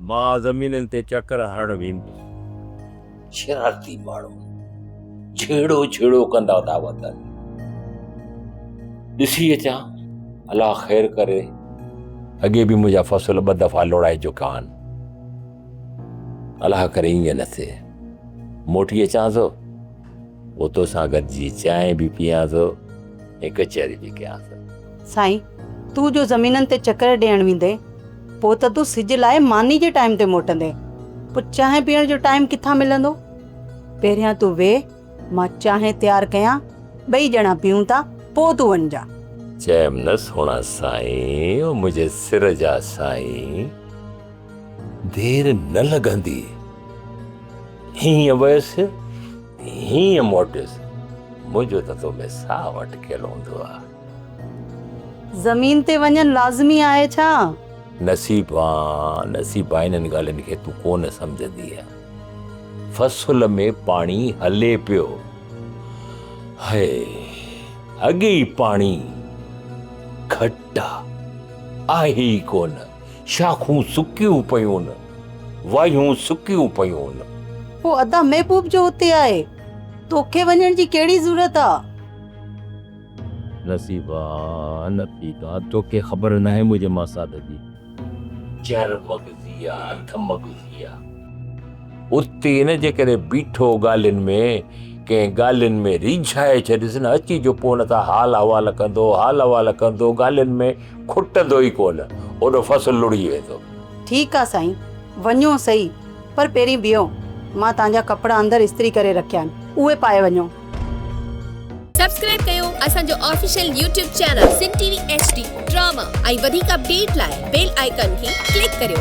مان زمينن تي چڪر هڻڻ ويندس. شرارتي ماڻهو جهيڙو جهيڙو ڪندا ٿا وتن. ڏسي اچان الا خير ڪري. اڳي به منهنجا فصل ٻه دفعا لوڙائي چڪا آهن. الا ڪري ايئن نه ٿئي. موٽي اچان ٿو پوء تو سان گڏجي چانهه به پيئان ٿو ۽ ڪچهري به ڪيان ٿو. سائين، تون جو زمينن تي چڪر ڏيڻ ويندين، پوء ته تون سج لاء ماني جي ٽائيم تي موٽندين، پوء چانهه پيئڻ جو ٽائيم ڪٿان ملندو؟ پهريان تون ويهه، مان چانهه تيار ڪيان، ٻئي ڄڻا پيئون ٿا، پوء تون وڃجان. چيم نه سهڻا سائين، او منهنجي سر جا سائين! دير نه لڳندي. هينئن ويس، هينئن موٽيس. منهنجو ته تو ۾ ساهه اٽڪيل هوندو آ. زمين تي وڃڻ لازمي آهي ڇا؟ نصيب آ، نصيب آ، انهن ڳالهين کي تون ڪو نه سمجهندينء. فصل ۾ پاڻي هلي پيو. هئ، اڳي ئي پاڻي گهٽ آ، آهي ئي ڪو نه. شاخون سڪيون پيون، وايون سڪيون پيون. پوء ادا محبوب جو اتي آهي، توکي وڃڻ جي ڪهڙي ضرورت آ؟ نصيبا نه ٿي ڪا، توکي خبر ناهي منهنجي ماسات جي. چر مغزي آ، اڌ مغزي آ. اتي نه جيڪڏهن بيٺو ڳالهين ۾ ڪنهن ڳالهين ۾ ريجهائي ڇڏيس نه، اچي جو پوء نه ته حال احوال ڪندو، حال احوال ڪندو ڳالهين ۾، کٽندو ئي ڪونه، اوڏو فصل لڙهي ويندو. ٺيڪ آ سائين، وڃو سهي، پر پهرين بيهو، مان توهان جا ڪپڙا اندر استري ڪري رکيا آهن، اهي پائي وڃو. سبسڪرائيب ڪيو اسان جو official YouTube channel Sindh T V H D drama ۽ وڌيڪ اپڊيٽ لاء بيل آئيڪان کي ڪلڪ ڪريو.